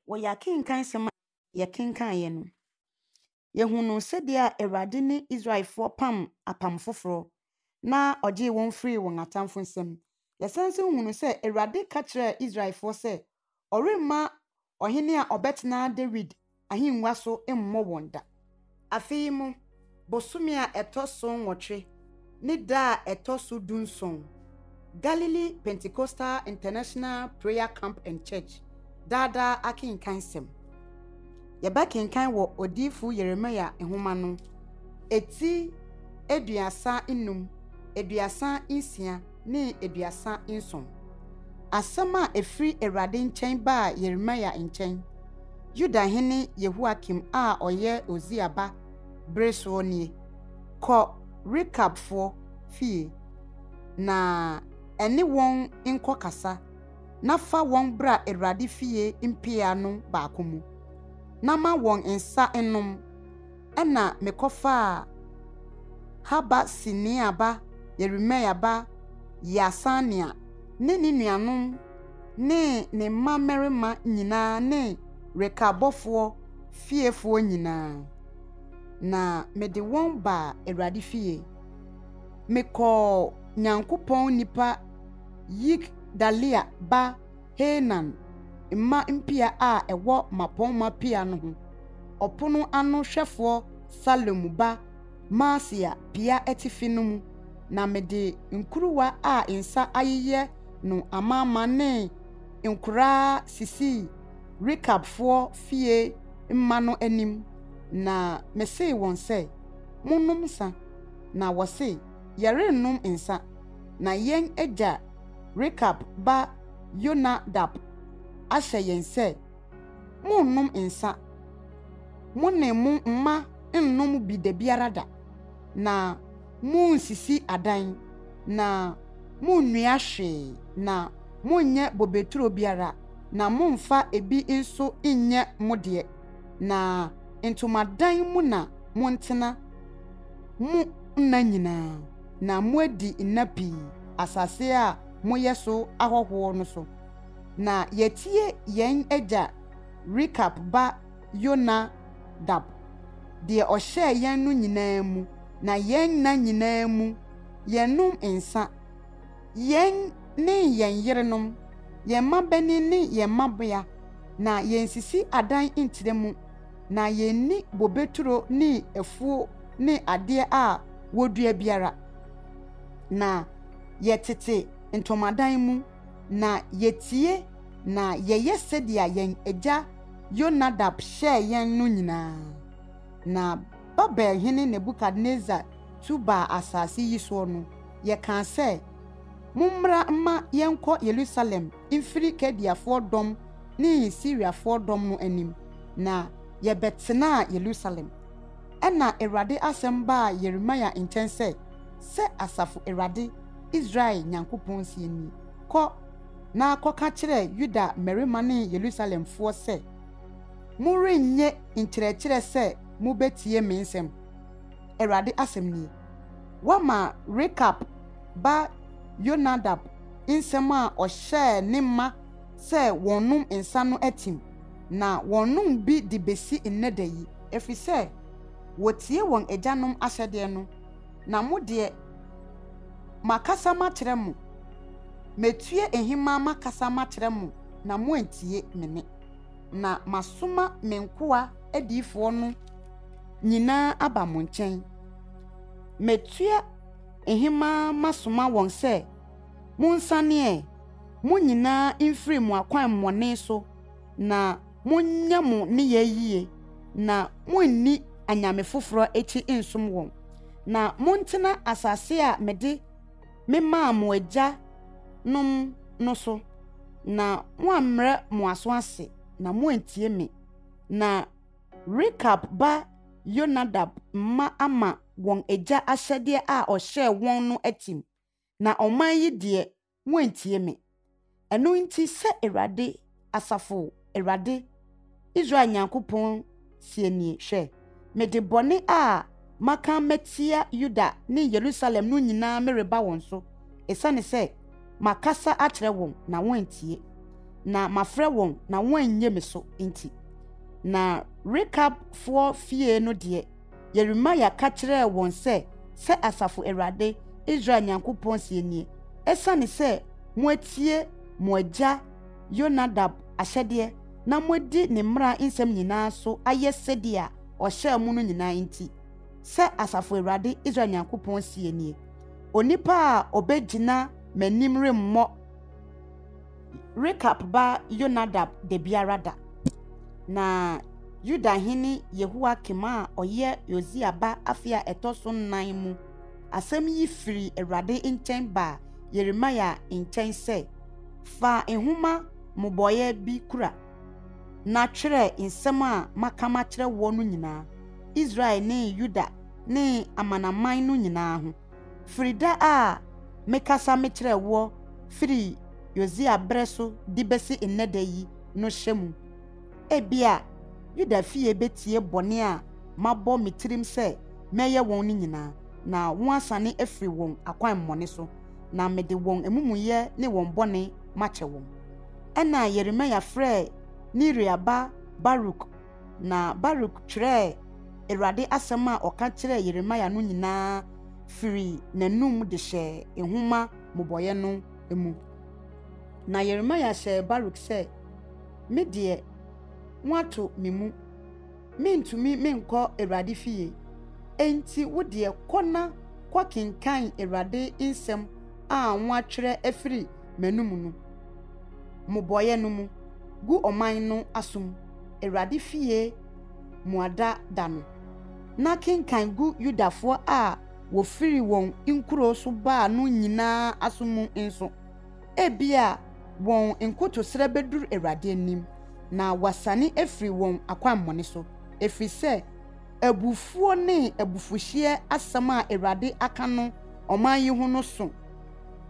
Wɔyɛ akenkan nsɛm a yɛkenkanɛ no, yɛhunuu sɛdeɛ a Awurade ne Israelfoɔ pam apam foforɔ na ɔgyee wɔn firii wɔn atamfo nsam. Yɛsan nso hunu sɛ Awurade ka kyerɛɛ Israelfoɔ sɛ ɔremma ɔhene a ɔbɛtena Dawid ahengua so mmɔ wɔn da. Afei mo bosome a ɛtɔ so nwɔtwe ne da a ɛtɔ so dunson, Galilee Pentecostal International Prayer Camp and Church Daa Daa Akenkansɛm Yɛbɛkenkan wɔ Odiyifo Yeremia Nhoma no eti aduasa nnum, aduasa nsia, ne aduasa nson. Asɛm a ɛfiri Awurade nkyɛn baa Yeremia nkyɛn, Yuda hene Yehoiakim a ɔyɛ Usia ba bere soɔ nie, Kɔ Rekabfoɔ fie, na ɛne wɔn nkɔ kasa, na fa wɔn bra Awurade fie mpia no baako mu, na ma wɔn nsa nnom, Ɛnna mekɔfaa Haba Senea ba Yeremia ba Yaasania ne ne nuanom ne ne mma mmarima nyinaa ne Rekab bɔfoɔ fiefoɔ nyinaa, na mede wɔn baa Awurade fie. Mekɔɔ Nyankopɔn nipa Yigdalia ba Haanan mma mpia a ɛwɔ mmapɔmma pia no ho, ɔpono ano hwɛfoɔ Salum ba Maaseia pia atifi no mu, na mede nkuruwa a nsa ayeyɛ no amaama ne nkoraa sisii Rekabfoɔ fie mma no anim, na mesee wɔn sɛ, Monnom nsã. Na wɔsee, Yɛrennom nsã, na yɛn agya Rekab ba Yonadab ahyɛ yɛn sɛ, 'Monnom nsã. Mo ne mo mma nnom bi da biara da, na munnsisi adan, na munnua hwee, na monnyɛ bobeturo biara, na mommfa ebi nso nnyɛ mo deɛ, na ntomadan mu na montena mo nna nyinaa. Na moadi nna pii asase a moyɛ so ahɔhoɔ no so. Na yɛatie yɛn agya Rekab ba Yonadab, deɛ ɔhyɛɛ yɛn no nyinaa mu, na yɛn nna nyinaa mu yɛnnom nsã, yɛn ne yɛn yerenom, yɛn mmabanin ne yɛn mmabea, na yɛnsisi adan nkyerɛ mu. na yenni bobeturo ne afuo ne adeɛ a wɔdua biara. Na yɛtete ntomadan mu, na yetie na yɛyɛ sɛdeɛ yɛn agya Yonadab hyɛɛ yɛn no nyinaa. Na Babel hene Nebukadnesar tu baa asase yi soɔ no, yɛkaa sɛ, Mommra mma yɛnkɔ Yerusalem mfiri Kaldeafoɔ dɔm ne Siriafoɔ dɔm no anim, na yɛbɛtenaa Yerusalem. Ɛnna Awurade asɛm baa Yeremia nkyɛn sɛ, Sɛ Asafo Awurade, Israel Nyankopɔn seɛ nie, Kɔ, na kɔka kyerɛ Yuda mmarima ne Yerusalemfoɔ sɛ, 'Morennye nkyerɛkyerɛ sɛ mobɛtie me nsɛm, Awurade asɛm nie. Woama Rekab, ba Yonadab nsɛm a ɔhyɛɛ ne mma sɛ wɔnnom nsa no atim, na wɔnnom bi de besi nnɛ da yi, efisɛ wotiee wɔn agyanom ahyɛdeɛ no. Na mo deɛ, makasa makyerɛ mo, matue nhemmaa makasa makyerɛ mo na moantie me nne, na masoma me nkoa adiyifoɔ no nyinaa aba mo nkyɛn. Matua. Hemaa masoma wɔn sɛ, Monsan ɛ, mo nyinaa mfiri mo akwammɔne so, na monyɛ mo nneyɛɛ yie, na monni anyame foforɔ akyi nsom wɔn, na montena asase a mede memaa mo agyanom no so, na moammrɛ mo aso ase, na moantie me. Na Rekab ba Yonadab mma ama wɔn agya ahyɛdeɛ a ɔhyɛɛ wɔn no atim, na ɔman yi deɛ, wɔantie me. Ɛno nti, sɛ Awurade, asafo Awurade, Israel Nyankopɔn seɛ nie, Hwɛ, mede bɔne a maka matia Yuda ne Yerusalem no nyinaa mereba wɔn so, ɛsiane sɛ makasa akyerɛ wɔn, na wɔantie, na mafrɛ wɔn, na wɔannye me so nti. Na Rekabfoɔ fie no deɛ, Yeremia ka kyerɛɛ wɔn sɛ, 'Sɛ Asafo Awurade, Israel Nyankopɔn seɛ nie, Ɛsiane sɛ moatie mo agya Yonadab ahyɛdeɛ na moadi ne mmara nsɛm nyinaa so ayɛ sɛdeɛ ɔhyɛɛ mo no nyinaa nti, sɛ Asafo Awurade, Israel Nyankopɔn seɛ nie, onipa a ɔbɛgyina m'anim remmɔ. Rekab ba Yonadab Dabiarada, na Yuda hene Yehoiakim a ɔyɛ Yosia ba afe a ɛtɔ so nnan mu asɛm yi firii Awurade nkyɛn baa Yeremia nkyɛn sɛ, Fa nhoma mmobɔeɛ bi kura, na twerɛ nsɛm a maka makyerɛ woɔ no nyinaa, Israel ne Yuda ne amanaman no nyinaa ho. Firi da a me kasa me kyerɛɛ woɔ firii Yosia berɛ so de bɛsi nnɛ da yi no hyɛ mu. Ebia Yuda fie bɛtie bɔne a mabɔ me tirim sɛ mɛyɛ wɔn no nyinaa, na wɔasane afiri wɔn akwammɔne so, na mede wɔn amumuyɛ ne wɔn bɔne makyɛ wɔn. Ɛnna Yeremia frɛɛ Neria ba Baruk Na Baruk twerɛɛ Awurade asɛm a ɔka kyerɛɛ Yeremia no nyinaa firii n'anom de hyɛɛ nwoma mmobɔeɛ no mu. Na Yeremia hyɛɛ Baruk sɛ, Me deɛ, wɔato me mu. Merentumi menkɔ Awurade fie. Enti wo deɛ, kɔ na kɔkenkan Awurade nsɛm a wɔatwerɛ afiri m'anom no, mmobɔeɛ no mu, gu ɔman no asom. Awurade fie mmuada da no, na kenkan gu Yudafoɔ a wɔfiri wɔn nkuro so baa no nyinaa aso mu nso. Ebia wɔn nkotosrɛ bɛduru Awurade anim, na wasane afiri wɔn akwammɔne so, ɛfiri sɛ abufuo ne abufuhyeɛ asɛm a Awurade aka no ɔman yi ho no so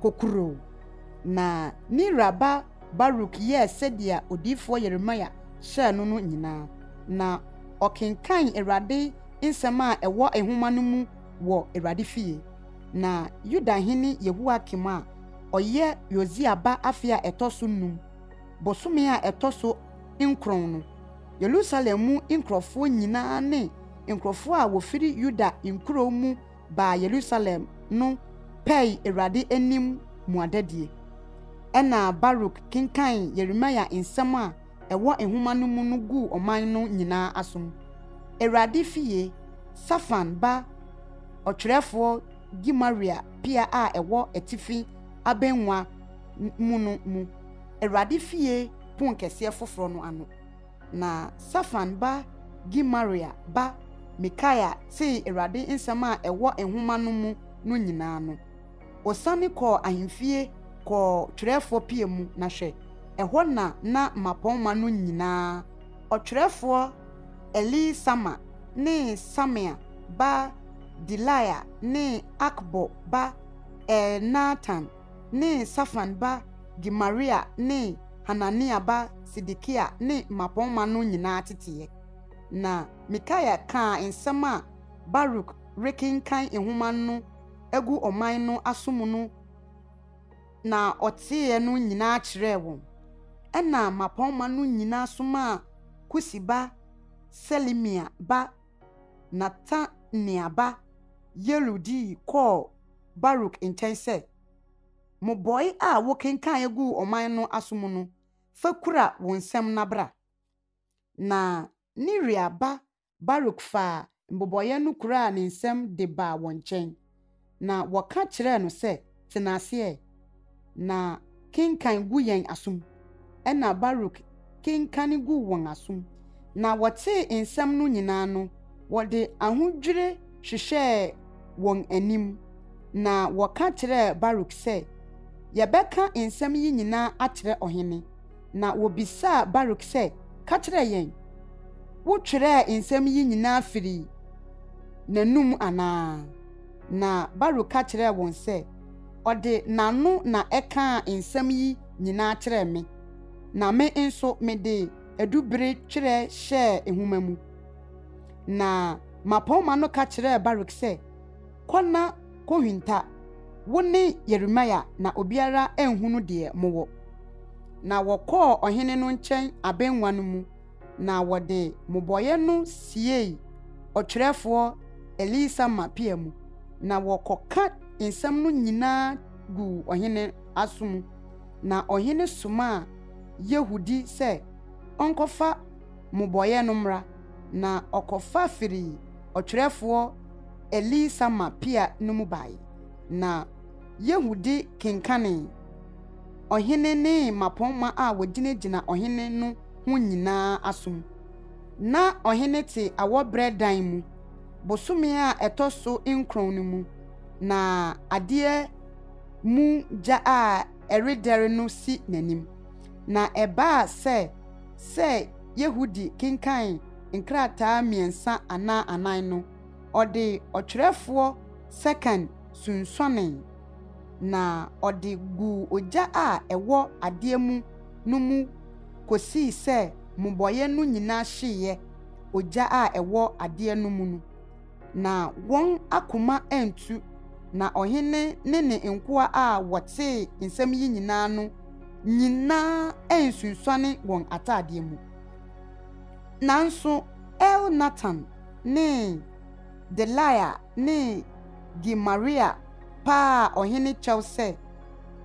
kokuroo, na Nira ba Baruk yɛɛ sɛdeɛ odiyifoɔ Yeremia hyɛɛ no no nyinaa, na ɔkenkan Awurade nsɛm a ɛwɔ nwoma no mu wɔ Awurade fie. Na Yuda hene Yehoiakim a ɔyɛ Yosia ba afe a ɛtɔ so nnum, bosome a ɛtɔ so nkron no, Yerusalem mu nkurɔfoɔ nyinaa ne nkurɔfoɔ a wɔfiri Yuda nkuro mu baa Yerusalem no pɛe Awurade anim mmuadadie. Ɛnna Baruk kenkan Yeremia nsɛm a ɛwɔ nwoma no mu no guu ɔman no nyinaa asom. Awurade fie, Safan ba ɔtwerɛfoɔ Gemaria pia a ɛwɔ atifi abannwa mu no mu, Awurade fie ponkɛseɛ foforɔ no ano. Na Safan ba Gemaria ba Mikaia tee Awurade nsɛm a ɛwɔ nwoma no mu no nyinaa no, osiane kɔɔ ahemfie kɔɔ twerɛfoɔ pia mu, na hwɛ, ɛhɔ na na mmapɔmma no nyinaa, ɔtwerɛfoɔ Elisama ne Semaia ba Delaia ne Akbor ba Elnatan ne Safan ba Gemaria ne Hanania ba Sedekia ne mmapɔmma no nyinaa teteɛ. Na Mikaia kaa nsɛm a Baruk rekenkan nhoma no agu ɔman no aso mu no na ɔteeɛ no nyinaa kyerɛɛ wɔn. Ɛnna mmapɔmma no nyinaa somaa Kusi ba Selemia ba Netania ba Yeiel dii kɔɔ Baruk nkyɛn sɛ, Mmobɔe a wokenkanee guu ɔman no aso mu no fa kura wo nsam na bra. Na Neria ba Baruk faa mmobɔeɛ no kuraa ne nsam de baa wɔn nkyɛn, na wɔka kyerɛɛ no sɛ, Tena ase ɛ, na kenkan gu yɛn asom. na Baruk kenkan guu wɔn asom, na wɔtee nsɛm no nyinaa no, wɔde ahodwire hwehwɛɛ wɔn anim, na wɔka kyerɛɛ Baruk sɛ, Yɛbɛka nsɛm yi nyinaa akyerɛ ɔhene. Na wɔbisaa Baruk sɛ, Ka kyerɛ yɛn, wotwerɛɛ nsɛm yi nyinaa firii n'anom anaa? Na Baruk ka kyerɛɛ wɔn sɛ, Ɔde n'ano na ɛkaa nsɛm yi nyinaa kyerɛɛ me, na me nso mede adubere twerɛ hyɛɛ nwoma mu. Na mmapɔmma no ka kyerɛɛ Baruk sɛ, Kɔ na kɔhwinta, wo ne Yeremia, na obiara anhunu deɛ mowɔ. Na wɔkɔɔ ɔhene no nkyɛn abɛnwa no mu, na wɔde mmobɔeɛ no siee ɔtwerɛfoɔ Elisama pia mu, na wɔkɔka nsɛm no nyinaa guu ɔhene aso mu, na ɔhene somaa Yehudi sɛ ɔnkɔfa mmobɔeɛ no mmra, na ɔkɔfa firii ɔtwerɛfoɔ Elisama pia no mu baeɛ. Na Yehudi kenkanee ɔhene ne mmapɔmma a wɔgyinagyina ɔhene no ho nyina ara aso mu. Ná ɔhene te awɔberɛ dan mu, bosome a ɛtɔ so nkron no mu na adeɛ mu gya a ɛredɛre no si n'anim. Na ɛbaa sɛ sɛ Yehudi kenkan nkrataa mmiɛnsa anaa anan no, ɔde ɔtwerɛfoɔ Sekan sunsuanee, na ɔde guu ogya a ɛwɔ adeɛ mu no mu kɔsii sɛ mmobɔeɛ no nyinaa hyeeɛ ogya a ɛwɔ adeɛ no mu no. Na wɔn akoma antu, na ɔhene ne ne nkoa a wɔtee nsɛm yi nyinaa no nyinaa ansunsuane wɔn ataadeɛ mu. Nanso Elnatan ne Delaia ne Gemaria paa ɔhene kyɛw sɛ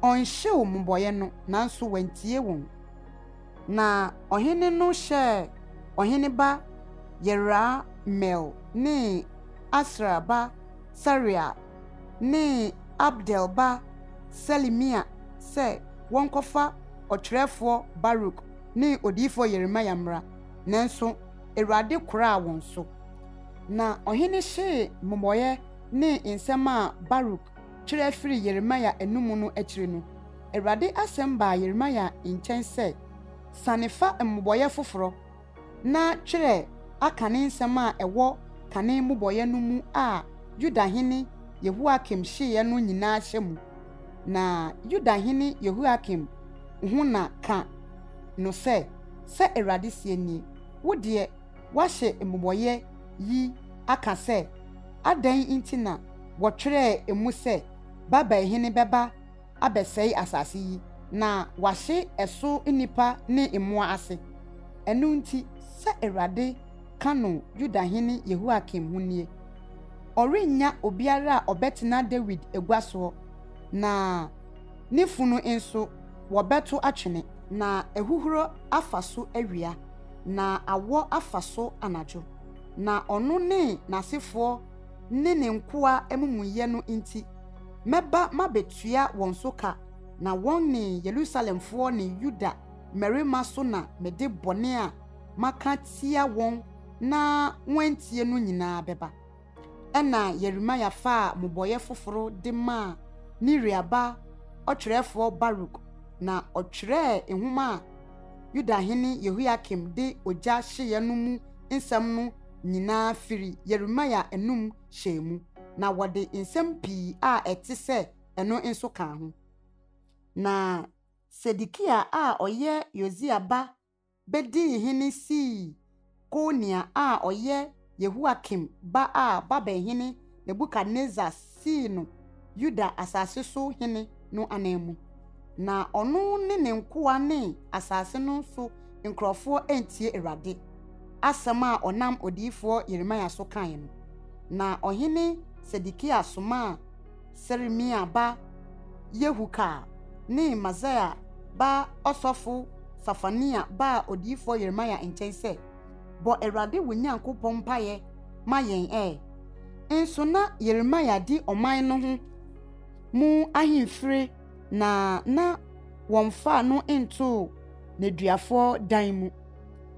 ɔnhyew mmobɔeɛ no, nanso wantie wɔn. Na ɔhene no hyɛɛ ɔhene ba Yerahmeel ne Asriel ba Seraia ne Abdeel ba Selemia sɛ wɔnkɔfa ɔtwerɛfoɔ Baruk ne odiyifoɔ Yeremia mmra, nanso Awurade koraa wɔn so. Na ɔhene hyee mmobɔeɛ ne nsɛm a Baruk twerɛ firii Yeremia anom no akyire no. Awurade asɛm baa Yeremia nkyɛn sɛ, Sane fa mmobɔeɛ foforɔ, na twerɛ akane nsɛm a ɛwɔ kane mmobɔeɛ no mu a Yuda hene Yehoiakim hyeeɛ no nyinaa hyɛ mu. Na Yuda hene Yehoiakim ho na ka no sɛ, Sɛ Awurade seɛ nie, Wo deɛ, woahye mmobɔeɛ yi aka sɛ, Adɛn nti na wɔtwerɛɛ mu sɛ Babel hene bɛba abɛsɛe asase yi na wɔahye ɛso nnipa ne mmoa ase. Ɛno nti, sɛ Awurade ka no Yuda hene Yehoiakim ho nie, Ɔrennya obiara a ɔbɛtena Dawid agua soɔ, na ne funu nso, wɔbɛto atwene. Na ahuhuro afa so awia, na awɔ afa so anadwo, na ɔno ne n'asefoɔ ne ne nkoa amumuyɛ no nti. Mɛba mabetua wɔn so ka, na wɔne Yerusalemfoɔ ne Yuda mmarima so na mede bɔne a maka atia wɔn na wɔantie no nyinaa bɛba. Ɛnna Yeremia faa mmobɔeɛ foforo de maa Neria ba ɔtwerɛfoɔ Baruk, na ɔtwerɛɛ nwoma a Yuda hene Yehoiakim de ogya hyeeɛ no mu nsɛm no nyinaa firii Yeremia anom hyɛɛ mu, na wɔde nsɛm pii a ɛte sɛ ɛno nso kaa ho. Na Sedekia a ɔyɛ Yosia ba bedii hene sii Konia a ɔyɛ Yehoiakim ba a Babel hene Nebukadnesar sii no Yuda asase so hene no ananmu. Na ɔno ne ne nkoa ne asase no so nkurɔfoɔ antie Awurade asɛm a ɔnam odiyifoɔ Yeremia so kaeɛ no. Na ɔhene Sedekia somaa Seremia ba Yehu kaa ne Maaseia ba ɔsɔfo Safania baa odiyifoɔ Yeremia nkyɛn sɛ, Bɔ Awurade wo Nyankopɔn mpaeɛ ma yɛn ɛ. Nso na Yeremia di ɔman no ho mu ahemfire na na wɔmfaa no ntoo nneduafoɔ dan mu.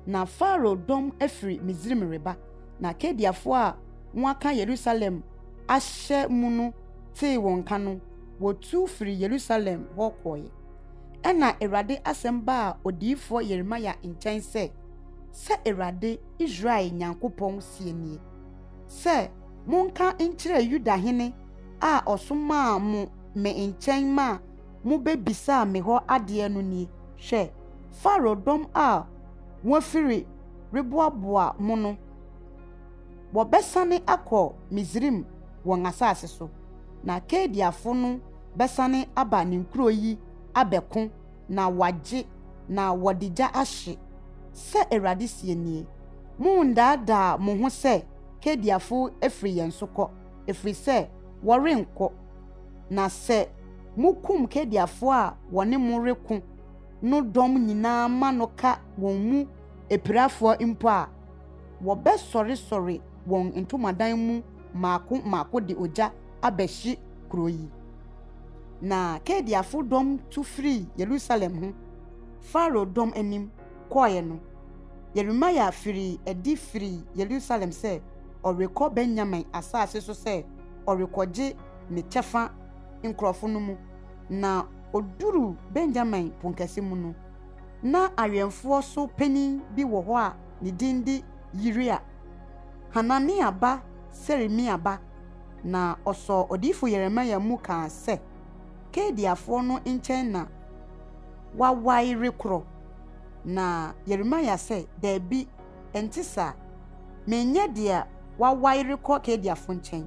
Na Farao dɔm afiri Misraim reba, na Kaldeafoɔ a wɔaka Yerusalem ahyɛ mu no tee wɔn nka no, wɔtu firii Yerusalem hɔ kɔeɛ. Ɛnna Awurade asɛm baa odiyifoɔ Yeremia nkyɛn sɛ, Sɛ Awurade Israel Nyankopɔn seɛ nie, sɛ monka nkyerɛ Yuda hene a ɔsomaa mo me nkyɛn ma mobɛbisaa me hɔ adeɛ no nie, Hwɛ, Farao dɔm a wɔafiri reboaboa mo no, wɔbɛsane akɔ Misraim wɔn asase so, na Kaldeafo no bɛsane aba ne nkuro yi abɛko na wɔagye, na wɔde gya ahye, sɛ Awurade seɛ nie. Monndaadaa mo ho sɛ Kaldeafo afiri yɛn so kɔ, ɛfiri sɛ wɔrennkɔ. Na sɛ mokum Kaldeafoɔ a wɔne mo reko no dɔm nyinaa ma no ka wɔn mu apirafoɔ mpo a, wɔbɛsɔresɔre wɔn ntomadan mu mmaako mmaako de ogya abɛhye kurow yi. Na Kaldeafo dɔm tu firii Yerusalem ho Farao dɔm anim kɔe no, Yeremia firii adi firii Yerusalem sɛ ɔrekɔ Benyamin asase so sɛ ɔrekɔgye ne kyɛfa nkurɔfo no mu. Na oduruu Benyamin Ponkɛse mu no, na awɛmfoɔ so panin bi wɔ hɔ a ne din de Yiria, Hanania ba Seremia ba. Na ɔsɔɔ odiyifo Yeremia mu kaa sɛ, Kaldeafoɔ no nkyɛn na wawae rekorɔ. Na Yeremia sɛ, Dabi, ɛnte saa. Menyɛ deɛ wawae rekɔ Kaldeafoɔ nkyɛn.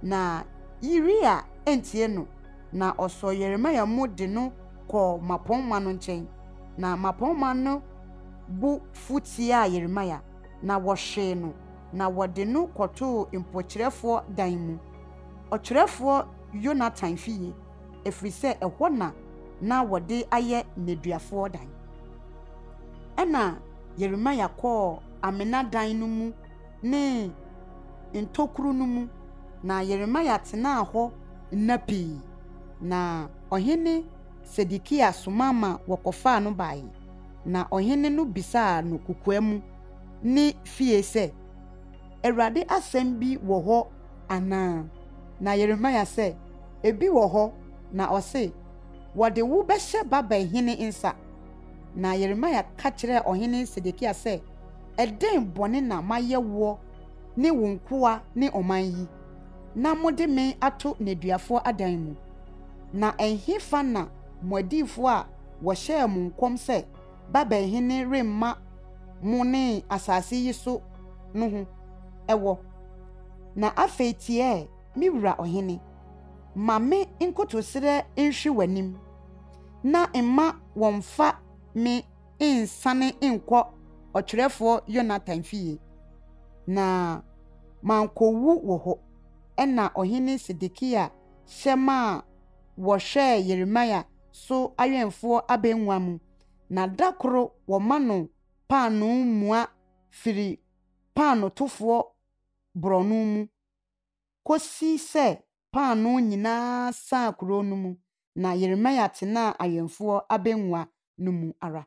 Na Yiria antie no, na ɔsɔɔ Yeremia mu de no kɔɔ mmapɔmma no nkyɛn. Na mmapɔmma no bo fu tiaa Yeremia, na wɔhwee no. na wɔde no kɔtoo mpokyerɛfoɔ dan mu, ɔtwerɛfoɔ Yonatan fie, ɛfiri sɛ ɛhɔ na na wɔde ayɛ nneduafoɔ dan. Ɛnna Yeremia kɔɔ amena dan no mu ne ntokuro no mu, na Yeremia tenaa hɔ nna pii, na ɔhene Sedekia soma ma wɔkɔfaa no baeɛ, na ɔhene no bisaa no kokoa mu ne fie sɛ, Awurade asɛm bi wɔ hɔ anaa? Na Yeremia sɛ, Ebi wɔ hɔ, na ɔse, Wɔde wo bɛhyɛ Babel hene nsa. Na Yeremia ka kyerɛɛ ɔhene Sedekia sɛ, Ɛdɛn bɔne na mayɛ woɔ ne wo nkoa ne ɔman yi, na mode me ato nneduafoɔ adan mu? Na ɛhefa na mo adiyifoɔ a wɔhyɛɛ mo nkɔm sɛ, Babel hene remma mo ne asase yi so no ho wɔ. Na afei teɛɛ, Me wura ɔhene, ma me nkotosrɛ nhwe w'anim, na mma wɔmmfa me nnsane nnkɔ ɔtwerɛfoɔ Yonatan fie, na mankɔwu wɔ hɔ. Ɛnna Ɔhene Sedekia hyɛ maa wɔhwɛɛ Yeremia so awɛmfoɔ abɛnwa mu, na da koro wɔma no paanoo mua firi paanotofoɔ borɔno mu kɔsi sɛ paanoo nyina ara saa kuro no mu, na Yeremia tenaa awɛmfoɔ abɛnwa no mu ara.